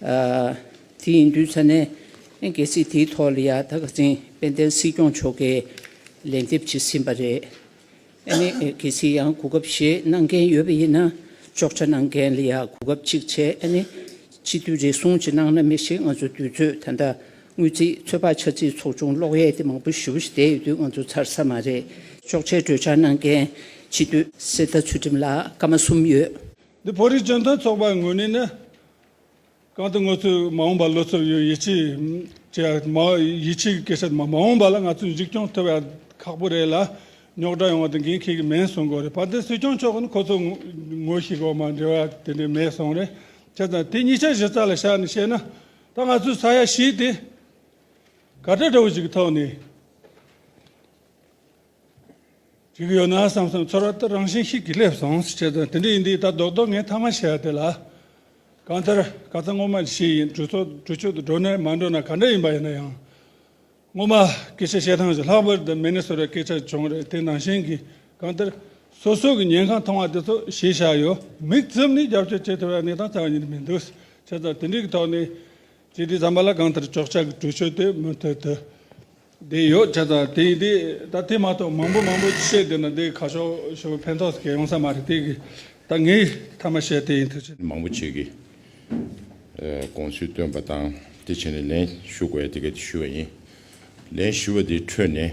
དེ་ཡིན་དུས་ཚང་ནས་གལ་སྲིད་དེའི་ཐོག་ལ་ཡང་ད་ག་ཚེང་དཔལ་ལྡན་སྲིད་སྐྱོང་མཆོག་གིས་ལན་འདེབས་བྱེད་སྲིད་པ་རེད། ཨ་ནི་གལ་སྲིད་ཡང་གོ་སྐབས་ཞིག་གནང་མཁན་ཡོད་པ་ཡིན་ན་ཅོག་ཆ་གནང་མཁན་ལ་ཡང་གོ་སྐབས་ཅིག་བྱས་ཨ་ནི་སྤྱི་འཐུས་རེ་ཟུང་ཅིག་གནང་ན་མི་ཞིག་ང་ཚོ་དུས་ཚོད་ད་ལྟ་དངུལ་རྩིས་ཚོད་དཔག་ཆ་རྩིས་ཚོགས་ཆུང་གློག་གཡས་དེ་མང་པོ་ཞུ་བཞིན་བསྡད་ཡོད་དུས་ང་ཚོ་ཚར་ས་མ་རེད། ཅོག་ཆའི་གྲོས་འཆར་གནང་མཁན་སྤྱི་འཐུས། གསེར་རྟ་ཚུལ་ཁྲིམས་ལགས་སྐར་མ་གསུམ་ཡོད། འདི་བོད་རིགས་བཅོན་སྟོན་ཚོགས་པའི་ངོས་ནས་ནི་གང་དུ་ང་ཚོས་མ་འོངས་པར་བློ་འཚབ་ཡོད་ཡིད་ཆེས་བྱེད་མ་ཡིད་ཆེས་ཀྱི་སྐད་ཆ་མ་འོངས་པ་ལ་ང་ཚོས་འཇིགས་སྐྱོང་ཐོབ་ཡག་ཁག་པོ་རེད་ལ་རྙོག་དྲ་ཡོང་བ་དེ་འགན་ཁྱེད་ཀྱི་མིན་གསུང་དགོས་རེད་བར་དེར་སྲིད་སྐྱོང་མཆོག་གིས་ནི་ཁོ་ཚོ་ངོ་ཤེས་དགོས་མ་འབྲེལ་བ་དེ་འདྲས་མེད་གསུང་རེད་བྱས་ཙང་དེ་གཉིས་ཆ་གཞི་རྩ་ལ་བཞག་ནས་བཤད་ན་ད་ང་ཚོས་ས་ཡ་བཞི་དེ་ག་དྲ་འདྲ་བོ་ཞིག་གི་ཐོག་ནས། ཅིག་ཡོད་ན་བསམ་བསམ་ཚོར་བ་དེ་རང་བཞིན་ཞིག་གིས་སླེབས་སོང་ཟེར་བྱས་དོན་དེ་འདྲ་ཡིན་དུས་ད་རྡོག་རྡོག་ངས་མཐའ་མ་བྱས་དེ་ལ་གང་ལྟར་ག་ཚ་སྔོན་མ་ལས་ཤེས་ཡིན་གྲོས་ཚོགས་གྲོས་ཆོད་དུ་འགྲོ་ནས་མ་འགྲོ་ན་ག་འདྲ་ཡིན་པ་ཡིན་ན་ཡང་སྔོན་མ་སྐད་ཆ་བཤད་སྟངས་ཀྱི་ལྷག་པར་དུ་མི་ནི་ཟེར་བའི་སྐད་ཆ་བྱུང་རེད་དེ་ནང་བཞིན་གྱི་གང་ལྟར་སོ་སོ་གི་ཉན་ཁང་མཐོང་བ་དེ་ཚོ་གཞི་བཞག་ཡོད་མིག་བཙུམ་ནས་རྒྱབ་སྐྱོར་བྱེད་ཐུབ་པའི་གནས་སྟངས་ཆགས་ཀྱི་མི་འདུག་བྱས་ཙང་དེ་འདྲའི་ཐོག་ནས་ཚེ་འདི་རྩམ་པ་ལ་གང་ལྟར་ཅོག་ཆག་གི་གྲུ་ཆོད་དེ་མུ་མཐུད་དུ་བསྡད་ཡོད་ཆ་ཚང་དེ་ཡིན་དུས་ད་ཐེངས་མ་གཏོགས་མང་པོ་མང་པོ་བཤད་འདོད་ན་འདི་ག་ཤོག་ཞེ་པོ་ཕན་ཐོགས་སྐྱེ་ཡོང་ས་མ་རེད་དེ་གི་ད་ངས་མཐའ་མ་བཤད་དེ་ཡིན་དུས་ཆ། མང་པོ་བྱེད་ཀྱི་དགོངས་ཚུལ་བཏོན་པ་དང་དེ་བྱས་ནས་ལན་ཞུ་དགོས་ཡ་དེ་ག་དེ་ཞུས་པ་ཡིན། ལན་ཞུས་པ་དེའི་ཁྲོད་ནས་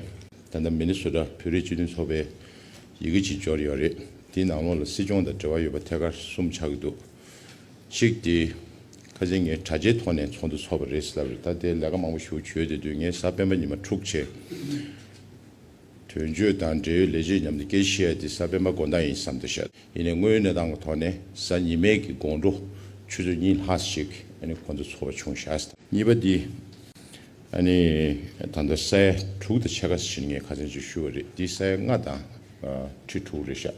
ད་ལྟ་མི་ནི་སོ་ཀྲ་བོད་རིགས་སྤྱི་མཐུན་ཚོགས་པའི་ཡི་གེ་གཅིག་འབྱོར་ཡོད་རེད་དེའི་ནང་ལོགས་ལ་སྲིད་སྐྱོང་དང་འབྲེལ་བ་ཡོད་པ་ཐད་ཀར་གསུམ་ཆགས་ཀྱི་འདུག་གཅིག་དེ། ཁ་ཟས་ངས་དྲ་རྒྱའི་ཐོག་ནས་ཚོགས་འདུ་ཚོགས་པ་རེད་ཟེར་ལབ་རེད་ད་ལྟའི་ལས་ཀ་མང་པོ་ཞུ་བྱོས་དེ་དུས་ངས་གཟའ་སྤེན་པ་ཉི་མ་དྲུག་བྱས། དོན་གཅོད་དང་འབྲེལ་ཡོད་ལས་བྱེད་མཉམ་དུ་སྐད་བཤད་ཡ་དེ་གཟའ་སྤེན་པ་དགོན་བདག་ཡིན་བསམ་དུ་བཤད་ཡིན་ནས་དངོས་ཡོད་གནས་སྟངས་ཀྱི་ཐོག་ནས་གཟའ་ཉི་མའི་གི་དགོང་དྲོ་ཆུ་ཚོད་གཉིས་ལྷག་ཞིག་ཨནི་ཁོང་ཚོ་ཚོགས་པ་ཆུང་བཞག་ཟེར། གཉིས་པ་དེ། ཨནི་ད་ལྟ་ས་ཡ་དྲུག་དང་ཕྱེད་ཀ་ཟིན་ངས་ཁ་ཟས་ཅིག་ཞུ་བ་རེད་དེ་ས་ཡ་ལྔ་དང་ཁྲི་དྲུག་རེད་བཞག།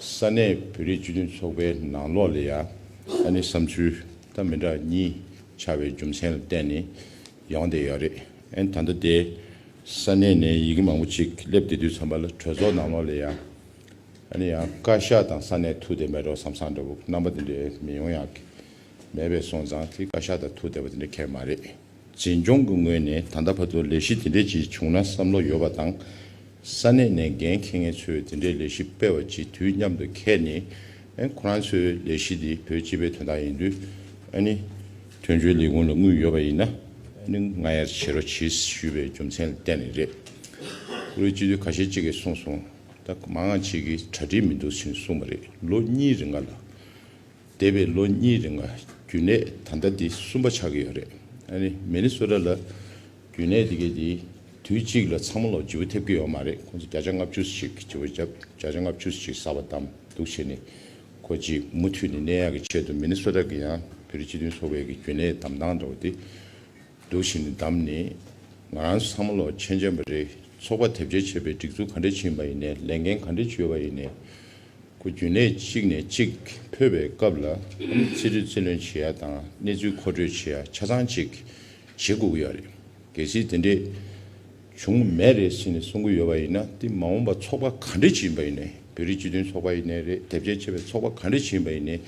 ས་གནས་བོད་རིགས་སྤྱི་མཐུན་ཚོགས་པའི་ནང་ལོགས་ལས་ཡག་ཨ་ནི་བསམ་ཚུལ་ད་མི་འདྲ་གཉིས་ཆགས་པའི་རྒྱུ་མཚན་ལ་བརྟེན་ནས་ཡོང་བསྡད་ཡོད་རེད་ཨན་ད་ལྟ་དེ་ས་གནས་ནས་ཡི་གེ་མང་པོ་ཅིག་སླེབས་བསྡད་དུས་ཚང་མ་ལ་གྲོས་ཚོགས་ནང་ལོགས་ལས་ཡག་ཨ་ནི་ཡང་བཀའ་ཤག་དང་ས་གནས་ཐུག་བསྡད་མེད་རོགས་བསམ་བསམ་འདྲ་བོ་རྣམ་པ་དེ་འདྲས་མི་ཡོང་ཡག་གི་མེད་པས་སོང་ཙང་དེ་བཀའ་ཤག་དང་ཐུག་བསྡད་པ་དེ་འདྲས་ཁེགས་མ་རེད། འཛིན་སྐྱོང་གི་ངོས་ནས་ད་ལྟ་བར་དུ་ལས་གཞི་དེ་འདྲས་ཅིག་བྱུང་ན་བསམ་བློ་ཡོད་པ་དང། ས་གནས་ནས་འགན་འཁྱེར་མཁན་ཚོས་དེ་འདྲའི་ལས་གཞི་སྤེལ་བ་གཅིག་དུས་མཉམ་དུ་འཁེལ་ནས། ཁོ་རང་ཚོའི་ལས་གཞི་འདི་བོད་སྤྱི་པའི་དོན་དག་ཡིན་དུས། དོན་གཅོད་ལས་ཁུངས་ལ་དངུལ་ཡོད་པ་ཡིན་ན། ང་ཡར་བྱེད་རོགས་བྱེད་ཞུས་པའི་རྒྱུ་མཚན་ལ་བརྟེན་ནས་རེད། ཁོ་བོའི་སྤྱི་འཐུས་ཁ་ཤས་གཅིག་གིས་གསུངས་སོང། ད་མང་ཅིག་གིས་གྲ་སྒྲིག་མི་འདུག་ཟེར་གསུངས་པ་རེད་ལོ་གཉིས་རེ་འགའ་ལ། འདས་པའི་ལོ་གཉིས་རིང་ལ་རྒྱུན་ལས་ད་ལྟ་འདི་གསུམ་པ་ཆགས་ཀྱི་ཡོད་རེད། ཨ་ནི་མེ་ནི་སོ་ཏྲ་ལ་རྒྱུན་ལས་དེ་གའི་དེ་དུས་གཅིག་ལ་ཚང་མ་ལོ་བྱིའུ་ཐེབས་ཀྱི་ཡོད་མ་རེད་ཁོང་ཚོ་བརྒྱ་ཆ་ལྔ་བཅུ་ཞིག་བྱིའུ་བརྒྱ་ཆ་ལྔ་བཅུ་ཞིག་བསགས་པ་དང་འདུག་བྱས་ནས་ཁོ་གཅིག་མུ་མཐུད་ནས་ནད་ཡག་གི་ཆེད་དུ་མེ་ནི་སོ་ཏྲ་གི་ཡང་བོད་རིགས་སྤྱི་མཐུན་ཚོགས་པའི་གི་རྒྱུན་ལས་དམ་བཏང་འདྲ་བོ་དེ་འདུག་ཞིང་ནི་དམ་ནི། ང་རང་ཚོ་ཚང་མ་ལོ་ཆེན་ཆེན་པ་རེད་ཚོགས་པ་དེབ་སྐྱེལ་བྱེད་པའི་སྒྲིག་འཛུགས་ག་འདྲས་ཕྱིན་པ་ཡིན་ནས་ལས་འགན་ག་འདྲས་བཅོལ་བ་ཡིན་ནས་གོ་རྒྱུ་ནས་གཅིག་ནས་གཅིག་འཕོས་པའི་སྐབས་ལ་ཚིག་འབྲི་ཚིག་ལོན་བྱེད་ཡ་དང་གནས་ཚུལ་མཁོ་སྤྲོད་བྱེད་ཡ་ཆ་ཚང་གཅིག་བྱེད་དགོས་ཀྱི་ཡོད་རེད་གལ་སྲིད་དེ་འདྲས་བྱུང་མེད་རེད་ཟེར་ནས་གསུང་གི་ཡོད་པ་ཡིན་ན་དེ་མ་འོངས་པ་ཚོགས་པ་ག་འདྲས་བྱེད་ཡིན་པ་ཡིན་ནས་བོད་རིགས་སྤྱི་མཐུན་ཚོགས་པ་ཡིན་ནས་རེད་དེབ་སྐྱེལ་བྱེད་པའི་ཚོགས་པ་ག་འདྲས་བྱེད་ཡིན་པ་ཡིན་ནས་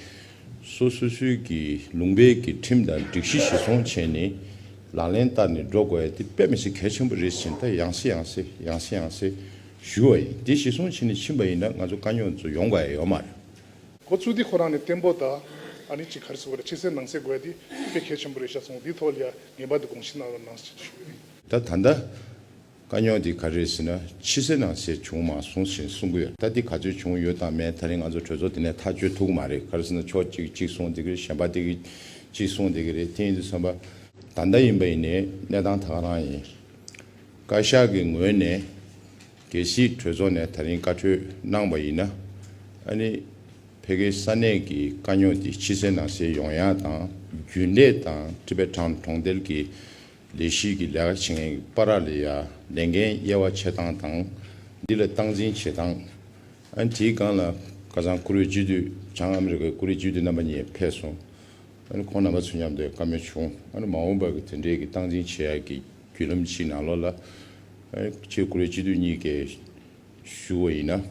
སོ་སོ་སོའི་གི་ལུང་པའི་གི་ཁྲིམས་དང་སྒྲིག་གཞི་བཞེས་སོང་བྱས་ནས་ལག་ལེན་བསྟར་ནས་འགྲོ་དགོས་ཡ་དེ་དཔེ་མི་སྲིད་གལ་ཆེན་པོ་རེད་ཟེར་ནས་ད་ཡང་སེ་ཡང་སེ་ཡང་སེ་ཡང་སེ་ཞུ་བ་ཡིན་དེ་བཞེས་སོང་བྱས་ནས་ཕྱིན་པ་ཡིན་ན་ང་ཚོ་དཀའ་རྙོག་ཚོ་ཡོང་དགའ་ཡ་ཡོད་མ་རེད། ཁོ་ཚོས་དེ་ཁོ་རང་ནས་བརྟན་པོ་དང་ཨ་ནི་ཅི་གར་སོ་གར་ཕྱི་གསལ་ནང་གསལ་དགོས་ཡ་དེ་དཔེ་གལ་ཆེན་པོ་རེད་བཞག་སོང་དེའི་ཐོག་ལ་ཡ་ངེས་པར་དུ་དགོངས་བཞེས་གནང་རོགས་གནང་ཞེས་ཞུ་ཡོད། ད་ད་ད། དཀའ་རྙོག་འདི་ག་རེད་ཟེར་ན་ཕྱི་གསལ་ནང་གསལ་བྱུང་མ་སོང་ཞེས་གསུང་གི་ཡོད་ད་འདི་ག་ཚོད་བྱུང་ཡོད་དང་མེད་ད་རིང་ང་ཚོ་གྲོས་ཚོགས་དེ་ནས་ཐག་གཅོད་ཐུག་གི་མ་རེད་ག་རེ་ཟེར་ན་ཕྱོགས་གཅིག་གཅིག་གསུང་དེ་གི་རེད་གཞན་པ་དེ་གི་གཅིག་གསུང་དེ་གི་རེད་དེ་ཡིན་དུས་བསམ་པ། ད་ལྟ་ཡིན་པ་ཡིན་ནའི་གནས་སྟངས་ད་ག་རང་ཡིན། བཀའ་ཤག་གི་ངོས་ནས་གལ་སྲིད་གྲོས་ཚོགས་ནས་ད་རིང་བཀའ་འཁྲོལ་གནང་བ་ཡིན་ན་ཨ་ནི་ཕལ་སྐད་ས་གནས་ཀྱི་དཀའ་རྙོག་འདི་ཕྱི་གསལ་ནང་གསལ་ཡོང་ཡག་དང་རྒྱུན་ལས་དང་ཀྲི་པེ་ཁྲང་གྲོང་རྡལ་གྱི་ལས་གཞི་གི་ལས་ཀ་བྱེད་མཁན་གྱི་པཱ་ར་ལི་ཡ་ལས་འགན་དབྱེ་བ་ཕྱེ་སྟངས་དང་འདི་ལ་སྟངས་འཛིན་བྱེད་སྟངས། དེའི་སྒང་ལ་ཁ་སང་ཀུ་རེ་ཇུས་འདུས་བྱང་ཨ་མི་རི་ཀའི་ཀུ་རེ་ཇུས་འདུས་རྣམ་པ་གཉིས་ཕེབས་སོང། ཁོང་རྣམ་པ་ཚོས་མཉམ་དུ་བཀའ་མོལ་བྱུང། མ་འོངས་པར་གྱི་དེ་འབྲེལ་གྱི་སྟངས་འཛིན་བྱེད་ཡག་གི་བརྒྱུད་ལམ་ཕྱི་ནང་ལོགས་ལ། ཁྱེད་ཀུ་རེ་ཇུས་འདུས་གཉིས་ཀས། ཞུ་བ་ཡིན་ན།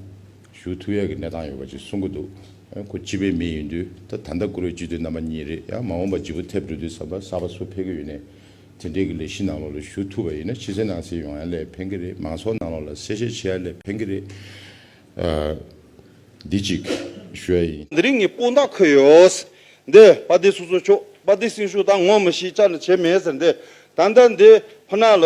ཞུ་ཐུ་ཡག་གི་གནས་སྟངས་ཡོད་པ་ཅིག་གསུང་གི་འདུག་ཁོ་སྤྱི་པའི་མི་ཡིན་དུས་ད་ད་ལྟ་བཀུར་འོས་སྤྱི་འཐུས་རྣམ་པ་གཉིས་རེད་ཡ་མ་འོངས་པ་སྦྱི་པོ་ཐེབས་འགྲོ་དུས་ཟབ་པ་ཟབ་པ་སུ་ཕེབས་ཀྱི་ཡོད་ནས་དེ་འདྲའི་གི་ལས་གཞི་ནང་ལོག་ལ་ཞུ་ཐུབ་པ་ཡིན་ན་ཕྱི་གསལ་ནང་གསལ་ཡོང་ཡ་ལས་ཕན་གི་རེད་མང་ཚོགས་ནང་ལོག་ལ་གསལ་བཤད་བྱེད་ཡ་ལས་ཕན་གི་རེད། འདི་གཅིག་ཞུ་ཡ་ཡིན། འདི་རིགས་ངས་སྤུན་ཟླ་འཁོད་ཡོད། འདི་དཔའ་སྡེ་སོ་སོ་ཆོག་དཔའ་སྡེ་སྲིང་ཞུ་ད་ངོ་མི་ཤེས་ཅག་ནི་བྱེད་མེད་ཟེར་འདི་ད་ལྟ་འདི་ཁོ་ན་ལ།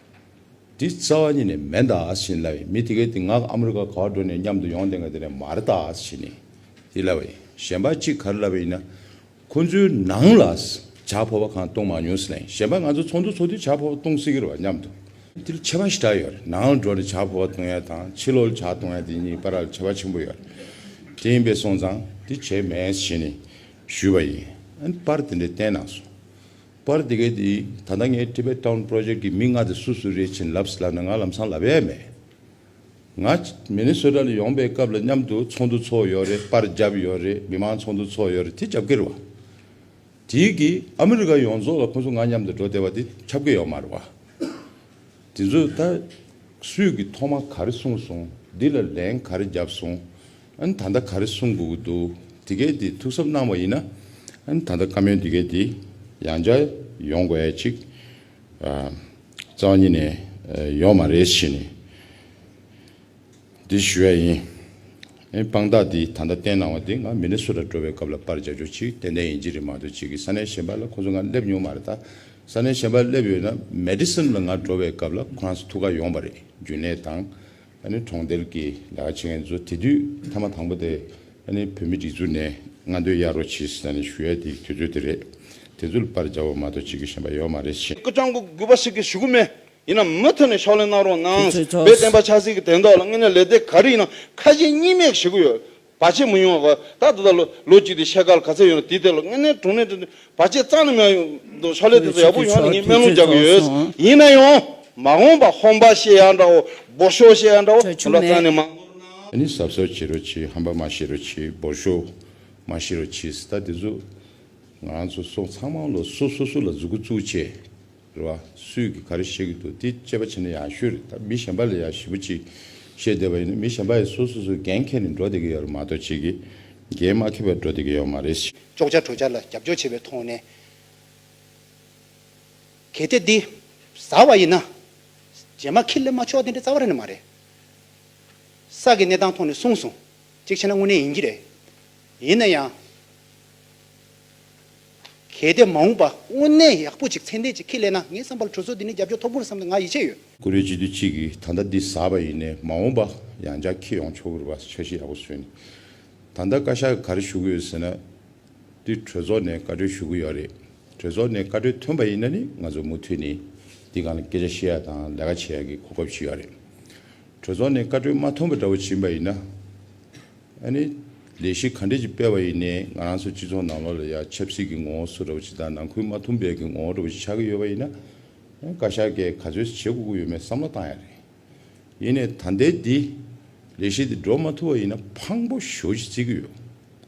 འདི་རྩ་བ་ཉིད་ནས་མེད་འདའ་ཞེས་ལབ་ཡིན་མི་དེ་གས་དེ་ངག་ཨ་མི་རི་ཀ་གར་འགྲོ་ནས་མཉམ་དུ་ཡོང་དེ་འགས་དེ་ནས་མར་འདའ་ཞེས་ནས་དེ་ལབ་ཡིན་གཞན་པ་གཅིག་གར་ལབ་པ་ཡིན་ན་ཁོ་ཚོའི་ནང་ལ་བྱ་ཕོ་བ་གང་བཏུང་མ་མྱོང་ཟེར་ན་ཡིན་གཞན་པ་ང་ཚོ་ཚོགས་འདུ་ཚོགས་དུས་བྱ་ཕོ་བ་བཏུང་སྲིད་གི་རེད་བ་མཉམ་དུ། འདི་ལ་ཁྱད་པ་ཞེ་དྲག་ཡོད་རེད་ནང་ལ་འགྲོ་ནས་བྱ་ཕོ་བ་བཏུང་ཡ་དང་ཕྱི་ལོག་ལ་བྱ་བཏུང་ཡ་དེ་གཉིས་པ་ར་ལ་ཁྱད་པ་ཆེན་པོ་ཡོད་རེད་དེ་ཡིན་པས་སོང་ཙང་དེ་བྱས་མེད་ཞེས་ནས་ཞུས་པ་ཡིན་ཨ་ནི་པར་དེ་འདྲས་བསྟན་གནང་སོང། པར་དེ་གས་དེ་ད་ལྟ་ངའི Tibet Town Project གི་མི་ལྔ་དེ་སུ་སུ་རེད་བྱིན་རླབས་ལབ་ན་ང་ལམ་སང་ལབ་ཡས་མེད། ང Minnesota ལ་ཡོང་པའི་སྐབས་ལ་མཉམ་དུ་ཚོགས་འདུ་ཚོགས་ཡོད་རེད་པར་རྒྱབ་ཡོད་རེད་མི་མང་ཚོགས་འདུ་ཚོགས་ཡོད་རེད་དེ་རྒྱབ་ཀྱི་རེད་བ། དེའི་གི་ཨ་མི་རི་ཀ་ཡོངས་རྫོགས་ལ་ཁོང་ཚོ་ང་མཉམ་དུ་འགྲོ་བདེ་བ་དེ་ཁྱབ་ཀྱི་ཡོད་མ་རེད་བ། དེ་ཚོས་ད་སུས་གི་ཐོག་མ་ག་རེ་གསུངས་སོང་འདི་ལ་ལན་ག་རེ་རྒྱབ་སོང། ཨན། ད་ལྟ་ག་རེ་གསུང་དགོས་ཀྱི་འདུག་འདི་གས་དེ་ཐུགས་གཟབ་གནང་བ་ཡིན་ན། ཨན། ད་ལྟ་བཀའ་མོལ་འདི་གས་དེ་ཡང་བསྐྱར་ཡོང་དགོས་ཡ་ཅིག། ཨ། རྩ་བ་ཉིད་ནས་ཡོང་མ་རེད་བྱས་ནས་འདི་ཞུ་ཡ་ཡིན། ཨན། དཔང་རྟགས་འདི་ད་ལྟ་བསྟན་གནང་བ་འདི་ང་མི་ནི་སུ་ར་འགྲོ་བའི་སྐབས་ལ་པར་འཇལ་རྒྱུ་ཅིག་ཏན་ཏན་ཡིན་གཅིག་རེད་མ་གཏོགས་གཅིག་གིས་ས་གནས་གཞན་པ་ལ་ཁོང་ཚོ་ང་སླེབས་མྱོང་མ་རེད་ད་ས་གནས་གཞན་པ་སླེབས་ཡོད་ན་མེ་ཏི་སིམ་ལ་ང་འགྲོ་བའི་སྐབས་ལ་ཁོ་རང་ཚོ་ཐུགས་ཁ་ཡོང་པ་རེད་རྒྱུན་ལས་དང། ནི་གྲོང་རྡལ་གྱི་ལས་ཀ་བྱེད་མཁན་ཚོ་དེ་དུས་མཐའ་མ་དང་པོ་དེ་ནི་བོད་མི་སྒྲིག་འཛུགས་ནས་ང་འདོད་གཡར་རོགས་བྱས་ཟེར་ནས་ཞུ་ཡ་དེ་དུས་ཚོད་དེ་རེད། དེ་ཚོ་ལ་པར་འཇའ་བོ་མ་གཏོགས་བྱེད་དགོས་ཞེན་པ་ཡོད་མ་རེད། སྐུ་ལྕམ་སྐུ་དགོས་པ་ཞིག་གི་ཞུ་གི་མེད། ཡིན་ནམ་མུ་མཐུད་ནས་ཕྱོགས་ལེན་གནང་རོགས་གནང། བོད་བསྟན་པ་ཆབ་སྲིད་ཀྱི་དོན་དག་ལ་དངོས་གནས་ལས་སྟེགས་ག་རེ་ཡིན་ན་ཁ་ཞེ་གཉིས་མེད་བྱེད་གི་ཡོད། བར་ཆད་མི་ཡོང་བ། ད་ལྟ་ལོ་གཅིག་དེ་ཤེལ་དཀར་ག་ཚད་ཡོད་རུང་དེའི་ཐད་ལ་དངོས་གནས་དྲུང་ནས་དྲུང་ནས་བར་ཆད་གཙང་ནས་མེད་འདུག་ཕྱག་ལས་དེ་ཚོ་ཡག་པོ་ཡོང་ནས་ངས་སྨན་ལུང་རྒྱག་གི་ཡོད། ཡིན་ན་ཡང། མ་འོངས་པ་ཧོམ་པ་བཤད་ཡག་འདྲ་བོ་འབོར་ཤོག་བཤད་ཡག་འདྲ་བོ་དེ་འདྲ་གཙང་ནས་མང། ད་ནི་ཟབ་ཟབ་བྱེད་རོགས་གྱིས་ཧམ་པ་མ་བྱེད་རོགས་གྱིས་འབོར་ཤོག་མ་བཤད་རོགས་གྱིས་ད་དེ་ཚོ། ང་རང་ཚོ་སོགས་ཚང་མ་ལོ་སོ་སོ་སོ་ལ་འཛུགས་སྐུ་བཙུགས་བྱས། རེད་བ། སུས་ཀྱིས་ག་རེ་བཤད་ཀྱི་འདུག་དེ་དཔྱད་པ་བྱེད་ན་ཡག་ཤོས་རེད་ད་མི་གཞན་པ་ལ་ཡང་ཞིབ་པོ་ཅིག་བཤད་བསྡད་པ་ཡིན་ན་མི་གཞན་པ་ཡང་སོ་སོ་སོའི་འགན་ཁྱེར་ནས་འགྲོ་བསྡད་ཀྱི་ཡོད་རེད་མ་གཏོགས་ཁྱེད་ཀྱི་འགན་མ་ཁྱེར་བར་འགྲོ་བསྡད་ཀྱི་ཡོད་མ་རེད། ཅོག་ཅར་གྲོས་འཆར་ལ་རྒྱབ་སྐྱོར་བྱེད་པའི་ཐོག་ནས། གལ་ཏེ་འདི་ཟ་བ་ཡིན་ན། རྗེས་མ་ཁྱི་ལེན་མ་ཆོག་དེ་འདྲའི་རྩ་བ་རེད་ནི་མ་རེད། ས་ཀྱི་གནས་སྟངས་ཐོག་ནས་གསུངས་སོང། གཅིག་བྱས་ན་དངོས་གནས་ཡིན་གྱི་རེད། ཡིན་ན་ཡང། གལ་ཏེ་མ་འོངས་པ་དངོས་གནས་ཡག་པོ་ཅིག་ཚན་ལྡན་ཅིག་ཁེ་ལས་ན་ངའི་བསམ་པར་གྲོས་ཚོགས་འདི་ནི་རྒྱབ་སྐྱོར་ཐོབ་གི་རེད་བསམ་སྟེ་ང་ཡིད་ཆེས་ཡོད། ཀུ་རེ་ཅི་དུས་གཅིག་གིས་ད་ལྟ་འདི་ཟ་བ་ཡིན་ནས་མ་འོངས་པ་ཡང་བསྐྱར་ཁེ་ཡོང་ཆོག་གི་རེད་བ་འཆར་གཞི་ཡག་པོ་བཟོས་ནས་ད་ལྟ་བཀའ་ཤག་གི་ག་རེ་ཞུ་གི་ཡོད་ཟེར་ན་དུས་གྲོས་ཚོགས་ནས་བཀའ་འཁྲོལ་ཞུ་གི་ཡོད་རེད་གྲོས་ཚོགས་ནས་བཀའ་འཁྲོལ་ཐོན་པ་ཡིན་ན་ནི་ང་ཚོས་མུ་མཐུད་ནས་འདི་ག་ལ་སྐད་ཆ་བཤད་ཡ་དང་ལས་ཀ་བྱེད་ཡ་གི་གོ་སྐབས་ཞིག་ཡོད་རེད་གྲོས་ཚོགས་ནས་བཀའ་འཁྲོལ་མ་ཐོན་པ་འདྲ་བོ་བྱིན་པ་ཡིན་ན། ཨ་ནི། ལས་གཞི་ག་འདྲས་ཀྱིས་སྤེལ་བ་ཡིན་ནའི་ང་རང་ཚོའི་སྤྱི་ཚོགས་ནང་ལོགས་ལ་ཡང་ཆབ་སྲིད་ཀྱི་ངོ་བོ་སུ་རེ་བ་ཅིག་དང་ནང་ཁུལ་མ་འཐུམ་པའི་གི་ངོ་བོ་རེ་བ་ཅིག་ཆགས་ཀྱི་ཡོད་པ་ཡིན་ན། བཀའ་ཤག་གིས་ག་ཚོད་བྱེད་དགོས་ཀྱི་ཡོད་མེད་བསམ་བློ་བཏང་ཡག་རེད། ཡིན་ནའི་ད་ལྟའི་འདི། ལས་གཞི་འདི་འགྲོ་མ་ཐུབ་པ་ཡིན་ན་ཕངས་པོ་ཞོ་ཞིག་རྩི་གི་ཡོད།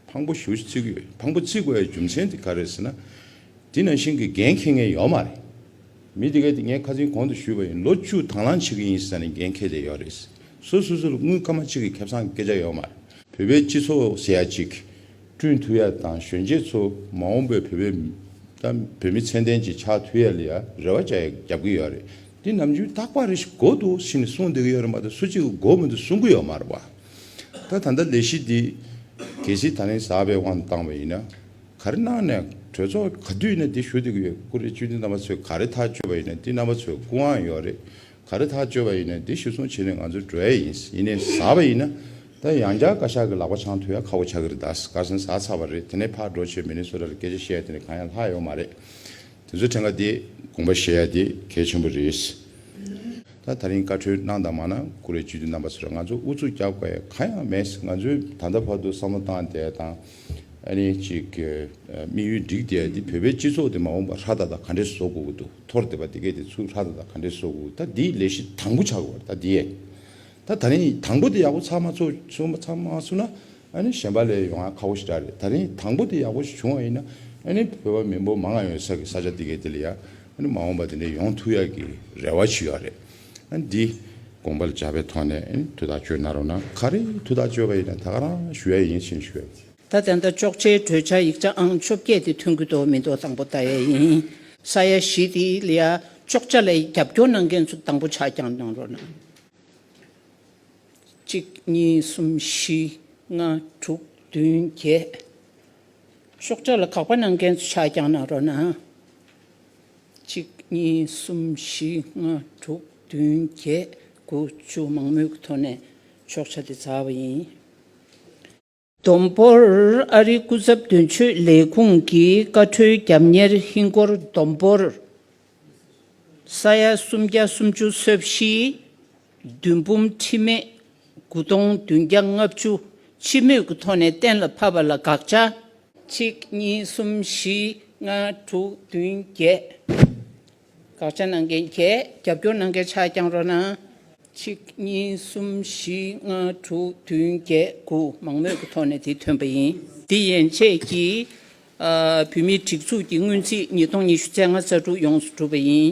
ཕངས་པོ་ཞོ་ཞིག་རྩི་གི་ཡོད། ཕངས་པོ་རྩི་དགོས་པའི་རྒྱུ་མཚན་དེ་ག་རེད་ཟེར་ན། འདི་ནང་བཞིན་གྱི་འགན་འཁྱེར་མཁན་ཡོད་མ་རེད། མི་དེ་ག་དེ་ངས་ཁ་ཚིག་གོང་དུ་ཞུས་པ་ཡིན་ལོ་བཅུ་དང་བླངས་བྱེད་ཀྱི་ཡིན་ཟེར་ནས་འགན་འཁྱེར་བསྡད་ཡོད་རེད། སོ་སོ་སོ་ལ་དངུལ་སྐར་མ་གཅིག་གི་ཁེ་བཟང་སྐད་ཆ་ཡོད་མ་རེད། བོད་པའི་སྤྱི་ཚོགས་ཟེར་ཡ་གཅིག་བསྐྲུན་ཐུབ་ཡ་དང་གཞོན་སྐྱེས་ཚོ་མ་འོངས་པའི་བོད་པའི་དང་བོད་མི་ཚད་ལྡན་ཅིག་ཆགས་ཐུབ་ཡ་ལ་ཡ་རེ་བ་བྱ་ཡ་རྒྱབ་ཀྱི་ཡོད་རེད་འདི་ནམ་རྒྱུན་ཐག་པ་རེ་ཞིག་གོ་འདུག་ཕྱི་ནས་གསུང་བསྡད་ཀྱི་ཡོད་རེད་མ་ད་སུ་གཅིག་གི་མགོ་མི་འདུག་གསུང་གི་ཡོད་མ་རེད་བ། ད་ད་ལྟ་ལས་གཞི་འདི། གལ་སྲིད་ད་རིང་ཟག་པའི་དབང་དུ་བཏང་བ་ཡིན་ན། ག་རེ་གནང་ནས་གྲོས་ཚོགས་ག་དུས་ནས་འདི་ཞུ་དགོས་ཡོད་ཀུ་རེ་བཅུ་འདི་རྣམ་པ་ཚོས་ག་རེ་ཐག་གཅོད་པ་ཡིན་ནས་འདི་རྣམ་པ་ཚོས་སྐུ་དབང་ཡོད་རེད་ག་རེ་ཐག་གཅོད་པ་ཡིན་ནས་འདི་ཞུ་སོང་བྱེད་ནས་ང་ཚོའི་འགྲོ་ཡ་ཡིན་ཡིན་ནས་ཟ་བ་ཡིན་ན་ད་ཡང་བསྐྱར་བཀའ་ཤག་གི་ལག་པ་འཆང་ཐུ་ཡ་ཁ་བོ་ཆག་གི་རེད་ད་སྐར་སེང་ཟ་ཚར་བ་རེད་དེ་ནས་ཕར་འགྲོ་ཆེད་མི་ནི་སུ་ར་ལ་སྐད་ཆ་བཤད་དེ་ནས་གང་ཡང་ལྷག་ཡོད་མ་རེད་དེ་ཚོའི་ཕྲན་ཁ་དེ་དགོངས་པ་བཞེས་ཡ་དེ་གལ་ཆེན་པོ་རེད་ད་ད་རིང་བཀའ་འཁྲོལ་གནང་དང་མ་གནང་ཀུ་རེ་བཅུ་འདི་རྣམ་པ་ཚོས་ང་ཚོ་ཨུ་ཚུགས་རྒྱག་དགོས་ཡ་གང་ཡང་མེད་ང་ཚོས་ད་ལྟ་བར་དུ་བསམ་བློ་བཏང་བསྡད་དང། ཨ་ནེ་གཅིག་གི་དམིགས་ཡུལ་འགྲིག་བསྡད་དེ་བོད་པའི་སྤྱི་ཚོགས་དེ་མ་འོངས་པར་ཧྲ་ད་ད་ག་འདྲེ་བཟོ་དགོས་ཀྱི་འདུག་ཐོར་བསྡད་པ་དེ་གས་དེ་ཚུར་ཧྲ་ད་ད་ག་འདྲེ་བཟོ་དགོས་ཀྱི་ད་འདི་ལས་གཞི་དང་པོ་ཆགས་དགོས་པ་རེད་ད་འདི་ཡས་ད་ད་རིང་དང་པོ་དེ་ཡག་པོ་ཚགས་མ་ཚོགས་ཚོགས་མ་ཚགས་མ་ཚུགས་ན་ཨ་ནེ་གཞན་པ་ལས་ཡོང་ཡ་ཁག་པོ་ཞིག་འདྲ་རེད་ད་རིང་དང་པོ་དེ་ཡག་པོ་ཞིག་བྱུང་བ་ཡིན་ན་ཨ་ནེ་བོད་པ་མི་འབོར་མང་ཡོད་ས་གི་ས་ཆ་དེ་གས་དེ་ལ་ཡ་ཨ་ནེ་མ་འོངས་པར་དེ་འདྲ་ཡོང་ཐུག་ཡག་གི་རེ་བ་བྱུས་ཡག་རེད། འདི་དགོངས་པར་བྱ་བའི་ཐོག་ནས་དུས་ཐག་གཅོད་ན་རུང་ན་ག་རེ་དུས་ཐག་གཅོད་པ་ཡིན་ན་ད་ག་རང་ཞུ་ཡ་ཡིན་ཕྱིན་ཞུ་ཡ། ད་ལྟ་འདྲ་གཅོག་ཆའི་གྲོས་འཆར་ཡིག་ཆ་ཨང་བཅོ་བརྒྱད་དེ་ཐོན་གྱི་དོ་མི་དོ་དང་པོ་ལྟ་ཡ་ཡིན། ས་ཡ་བཞི་དེ་ལ་ཡ་གཅོག་ཆ་ལ་རྒྱབ་སྐྱོར་གནང་མཁན་ཚོ་དང་པོ་ཆ་རྐྱང་གནང་རོགས་གནང། གཅིག་གཉིས་གསུམ་བཞི་ལྔ་དྲུག་བདུན་བརྒྱད། གཅོག་ཆ་ལ་གག་པ་གནང་མཁན་ཚོ་ཆ་རྐྱང་གནང་རོགས་གནང། གཅིག་གཉིས་གསུམ་བཞི་ལྔ་དྲུག་བདུན་བརྒྱད་དགུ་བཅུ་མང་མོས་ཀྱི་ཐོག་ནས་ཆོག་ཆ་དེ་བཙལ་བ་ཡིན། བསྡོམས་འབོར་ཨ་རིའི་སྐུ་ཚབ་དོན་གཅོད་ལས་ཁུངས་ཀྱི་བཀའ་འཁྲོལ་རྒྱབ་གཉེར་ཧིན་སྒོར་བསྡོམས་འབོར་ས་ཡ་སུམ་བརྒྱ་སུམ་ཅུ་སོ་བཞི། བདུན་འབུམ་ཁྲི་མེད་དགུ་སྟོང་བདུན་བརྒྱ་ལྔ་བཅུ་སྤྱི་མོས་ཀྱི་ཐོག་ནས་གཏན་ལ་ཕབ་པ་ལ་དགག་བྱ། གཅིག་གཉིས་གསུམ་བཞི་ལྔ་དྲུག་བདུན་བརྒྱད། དགག་བྱ་གནང་མཁན་བརྒྱད་རྒྱབ་སྐྱོར་གནང་མཁན་ཕྱག་བརྐྱང་རོགས་གནང། གཅིག་གཉིས་གསུམ་བཞི་ལྔ་དྲུག་བདུན་བརྒྱད་དགུ་མང་མོས་ཀྱི་ཐོག་ནས་དེ་ཐོན་པ་ཡིན། འདི་ཡན་ཆད་ཀྱིས་བོད་མིའི་སྒྲིག་འཛུགས་ཀྱི་སྔོན་རྩིས་ཉིས་སྟོང་ཉི་ཤུ་ཚན་ལྔ་གསར་དྲུག་ཡོངས་སུ་གྲུབ་པ་ཡིན།